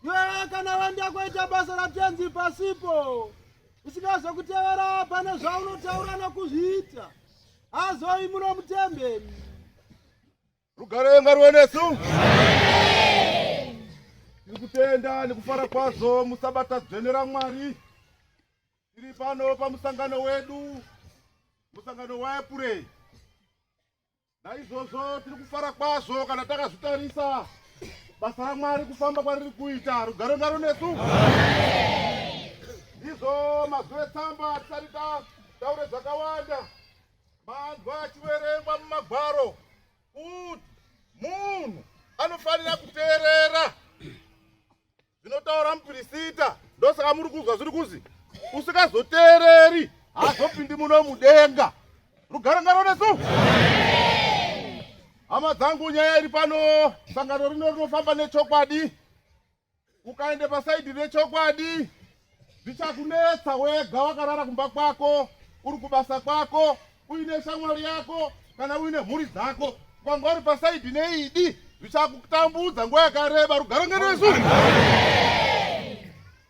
iwewe kana waenda kuita basa ratenzi pasipo usingazokutevera pane zvaunotaura nokuzviita azoi muno mutembeni rugare ngaruwe nesu tiri kutenda nekufara kwazvo musabata dzvene ramwari tiri pano pamusangano wedu musangano waepurei Naizvozvo tiri kufara kwazvo kana takazvitarisa basa raMwari kufamba kwariri kuita rugare ngaro nesu. Ndizvo mazwi etsamba tisati taure zvakawanda manzwa achiverengwa mumagwaro kuti munhu anofanira kuteerera zvinotaura mupirisita ndosaka muri kunzwa zviri kunzi usikazoteereri haazopindi muno mudenga rugare ngaro nesu hama dzangu nyaya iri pano sangano rino rinofamba nechokwadi ukaende pasaidhi rechokwadi Zvichakunetsa wega wakarara kumba kwako, uri kubasa kwako, uine shamwari yako kana uine mhuri dzako. Kwanga uri pasaidhi neidi, zvichakutambudza nguva yakareba. Rugare ngeresu.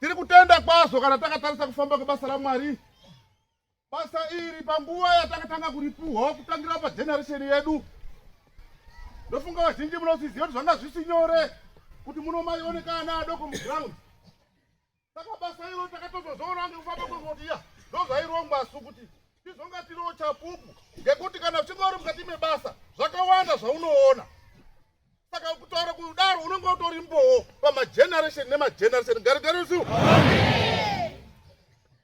Tiri kutenda kwazvo kana takatarisa kufamba kwebasa raMwari. Basa iri panguva yatakatanga kuripuhwa kutangira pageneresheni yedu, ndofunga vazhinji munosiziva kuti zvanga zvisi nyore kuti muno maioneka ana adoko muground. Saka basa iro takatozozoona ngekufamba kwekuti ya ndozvairongwa su kuti tizonga tiriwo chapupu ngekuti kana uchinga uri mukati mebasa zvakawanda zvaunoona saka kutaura kudaro unenge utori mbowo pamageneration nemageneration garigarisi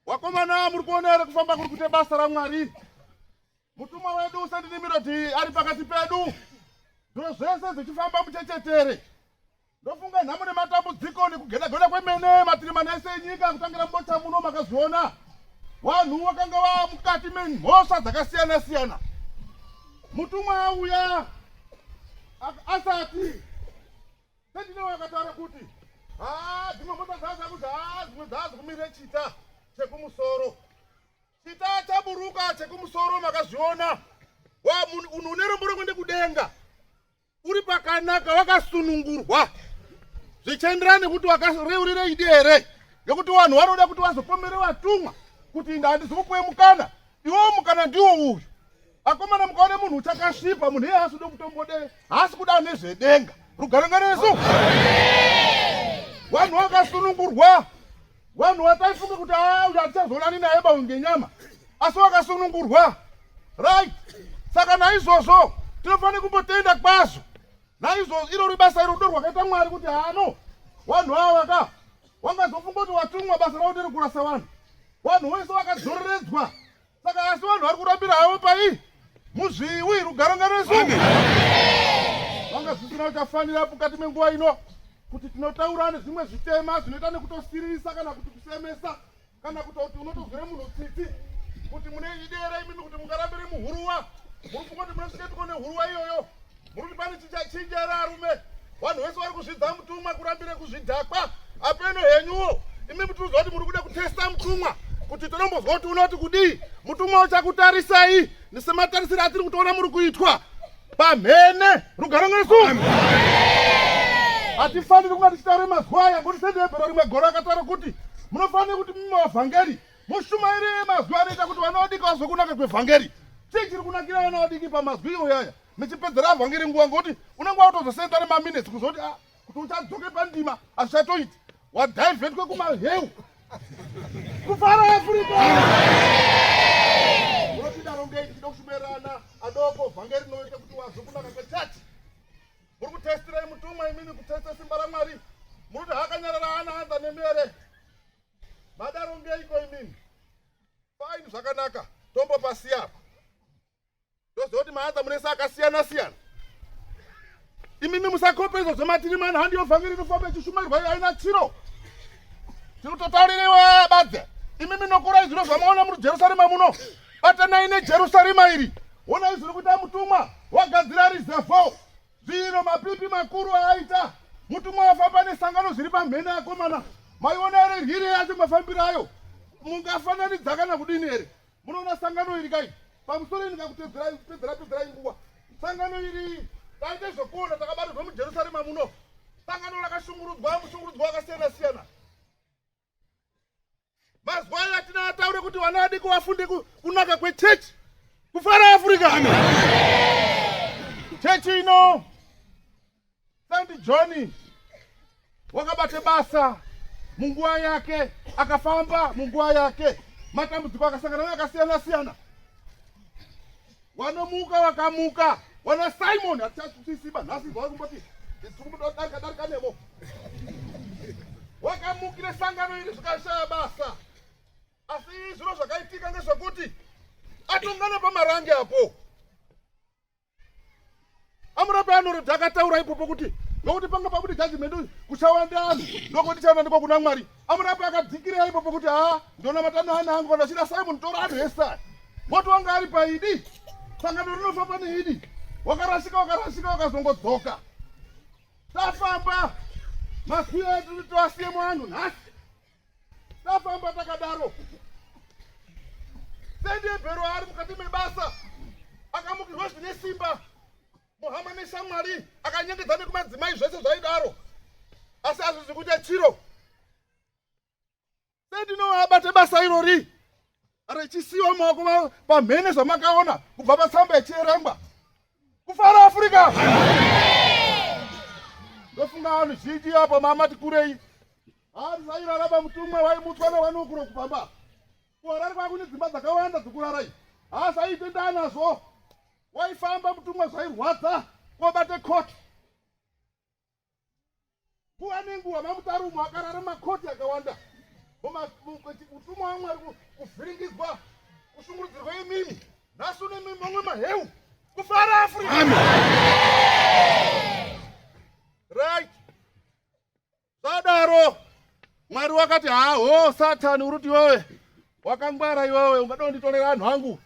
wakomana muri kuona here kufamba kuri kuita basa ramwari mutumwa wedu usandinimirodi ari pakati pedu zviro zvese zvichifamba muchechetere ndofunga nhamo nematambudziko nekugedageda kwemene matiri mana ese enyika kutangira mubota muno makazviona vanhu vakanga vaa mukati memhosva dzakasiyana siyana mutumwa auya asati sendine wakataura kuti haa dzimwe mota dzaza kuti haa dzimwe dzazi kumire chita chekumusoro chita chaburuka chekumusoro makazviona wa munhu une rombo rako ndekudenga uri pakanaka wakasunungurwa zvichienderana nekuti wakareurira idi here nekuti vanhu vanoda kuti vazopomere vatumwa kuti inda handizikupuwe mukana iwo mukana ndiwo uyu akomana mukaone munhu uchakasvipa munhu iye haasi kuda kutombode haasi kuda nezvedenga rugare ngaresu vanhu vakasunungurwa vanhu vataifunga kuti ah, uyu hatichazoonani naye bawi ngenyama asi vakasunungurwa right saka naizvozvo tinofanira kumbotenda kwazvo naizvozvo iro ribasa iro rudo rwakaita mwari kuti hano vanhu ava ka wangazofunga kuti watumwa basa ravo ndiri kurasa vanhu vanhu wese vakadzoreredzwa saka asi vanhu vari kurambira havo pai muzviwi rugare ngaresu vanga zvisina uchafanira mukati menguva ino kuti tinotaura nezvimwe zvitema zvinoita nekutosiririsa kana kuti kusemesa kana kutoti unotozwira munhu tsitsi kuti mune idera imimi kuti mungarambire muhuruwa muri kungoti munosvika tiko nehuruwa iyoyo Muri kuti pane chichachinja here arume? Vanhu vese vari kuzvidza mutumwa kurambire kuzvidhakwa. Apeno henyuwo. Imi mutuzo kuti muri kuda kutesta mutumwa kuti tinombozwa kuti unoti kudii mutumwa uchakutarisai nisematarisiro atiri kutoona muri kuitwa pamhene rugaro ngesu hatifaniri kunga tichitaure mazuva aya ngokuti sendihebhero rimwe goro akataura kuti munofanira kuti mumwe wavhangeri mushumairi mazuva anoita kuti vana vadiki vazokunaka kwevhangeri chii chiri kunakira vana vadiki pamazwi iyoyaya mechipedzera vhangeri nguva ngokuti unenge watozosenda nemaminetsi kuzoti ah, kuti uchadzoke pandima hazvichatoiti wadhivhetwe kumaheu kufara afrika unotidaro ngei tichida kushumerana adoko vhangeri rinoita kuti wazve kunaka kwechachi muri kutestirei mutumwa imini kutesta simba ramwari munoti hakanyarara ana anza nemi here madaro ngeiko imini faini zvakanaka tombopasiya apa ndoziva kuti maanza munese akasiyana siyana imimi musakope izvo zvematiri mani handi yovhangeri inofamba ichishumairwa iyo aina chiro tirikutotaurirewa badze imimi nokurai zvino zvamaona muri jerusarema muno batanai nejerusarema iri wona izviri kuita mutumwa wagadzira rizevho zvino mapipi makuru aaita mutumwa wafamba nesangano zviri pamhene akomana maiona ere ryiri yacho mafambiro ayo mungafananidza kana kudini here munoona sangano iri kai pamusoro ini kakutedzerai kupedzera pedzerai nguva sangano iri taite zvekuona takabarirwa mujerusarema muno sangano rakashungurudzwa mushungurudzwa wakasiyana siyana mazuva ayo atina ataure kuti vana vadiki vafunde kunaka kwechechi kufara afrika chechi ino Saint John wakabata basa munguva yake, akafamba munguva yake, matambudziko akasangana nayo akasiyana siyana. Wanomuka wakamuka, wana Simon hatichasiba nhasi zvawa kumboti tikudarika darika nevo wakamukire sangano iri zvikashaya basa, asi zviro zvakaitika ngezvekuti atongana pamarange apo amurapi anorodha akataura ipopo kuti nokuti panga pabude judgment uyu kuchawanda anhu ndokuti chawandanikwa kuna mwari amurapi akadzikirira ipopo kuti haa ndonamata nehana hangu vanhu vachida simon tora anhu ese aya moto wanga ari paidi sangano rinofamba neidi wakarasika wakarasika wakazongodzoka tafamba masiya edu tiwasiye mwanhu nhasi tafamba takadaro sendebhero ari mukati mebasa akamukirwa zvine simba muhama neshamwari akanyengedza nekumadzimai zvese zvaidaro asi azvizi kuita chiro sendinoabate basa irori Rechisiwa maoko pamhene zvamakaona kubva patsamba yechierengwa. Kufara Afrika. Ndofunga vanhu zhinji apa mamati kurei. Hanzi vairaraba mutumwa waimutswa newanokuro kupamba. Kuharare kwakune dzimba dzakawanda dzokurarai. Hasa aitenda nazvo. Waifamba mutumwa zvairwadza kobate court. nguva nenguva mamutarumo akarara makoti akawanda utumwa wamwari kuvhiringizwa kushungurudzirwa imimi nhasi une mimi mamwe maheu kufara afrika right zvadaro mwari wakati haho satani uruti iwewe wakangwara iwewe ungada unditorera anhu angu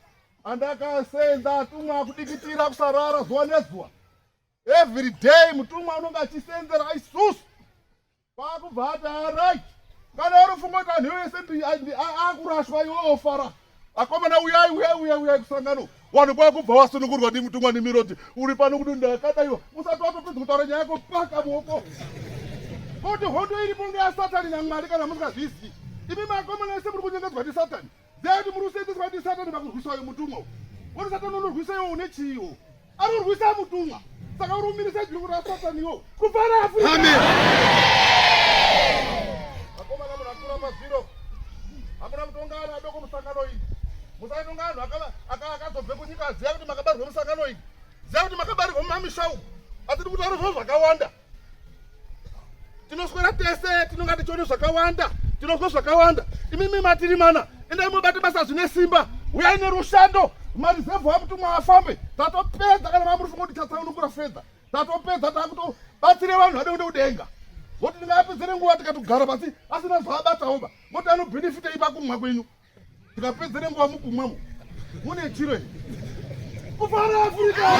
andakasenza atumwa kudikitira kusarara zuva nezuva every day mutumwa unonge achisenzera isusu kwaakubva ati arai kana uri funga kuti anhu ese akurashwa iwe ofara akomana uyai uyai uyai uyai kusangano wanhu kwakubva wasunungurwa ndi mutumwa nemiroti uri pano kuti ndakada iwe usati watopedza kutaura nyaya yako paka muoko kuti hondo iripo ngeyasatani namwari kana musingazvizivi imi makomana ese muri kunyengedzwa ndi satani Then muri kusenzeswa ndi Satan pakurwiswa uyu mutumwa. Wori Satan unorwisa iwo une chiwo. Anorwisa mutumwa. Saka uri umirisa juru ra Satan iwo. Kufara Afrika. Amen. Akoma na munakura pa zero. Amuna mutongana adoko musangano iyi. Musaitongana anhu akaba akazobve kunyika aziya kuti makabarwa musangano iyi. Ziya kuti makabarwa mumamisha uku. Atiri kutaura zvakawanda. tinoswera tese tinonga tichiona zvakawanda tinonzwa zvakawanda imimi matiri mana endai mobata basa zvine simba uyai nerushando marizevhu amutumwa afambe tatopedza kana mamuri funga kuti chatsaunukura fedha tatopedza takutobatsire vanhu vade kude kudenga voti ndingapedzere nguva tikatogara pasi asina zvaabataoba voti anobhenefita ipa kumwa kwenyu Tikapedza nenguva mukumwemo mune chiro ichi kufara Afrika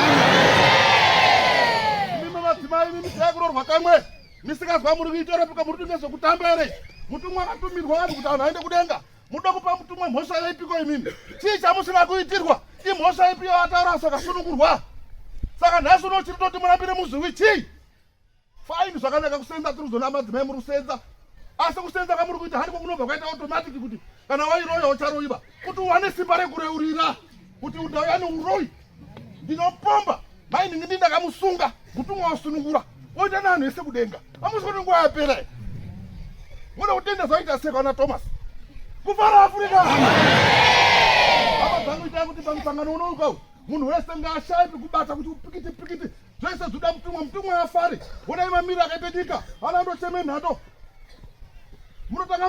mimi madzimai mimi taikurorwa kamwe misikazwa muri kuitorepuka muri kuti nezvekutamba here mutumwa akatumirwa vanhu kuti vanhu aende kudenga muda kupa mutumwa mhosva yaipiko imimi chii chamusina kuitirwa imhosva ipi yavataura sakasunungurwa saka nhasi unochiri toti murambire muzviwi chii Fine zvakanaka kusenza tiri kuzona madzimai muri kusenza asi kusenza kamuri kuita handiko kunobva kwaita automatic kuti kana wairoya ucharoiva kuti uwane simba rekureurira kuti udauya neuroyi ndinopomba mai ndingi ndi ndakamusunga mutumwa wasunungura oita nevanhu vese kudenga amusi kuti nguva yapera muda kutenda zvaita seka ana thomas kufara afrika hama dzangu itai kuti pamusangano unouka munhu wese ngaashaipi kubata kuti upikiti pikiti zvese zvoda mutumwa mutumwa afari honai mamiri akaita nyika ana ndocheme nhato munotanga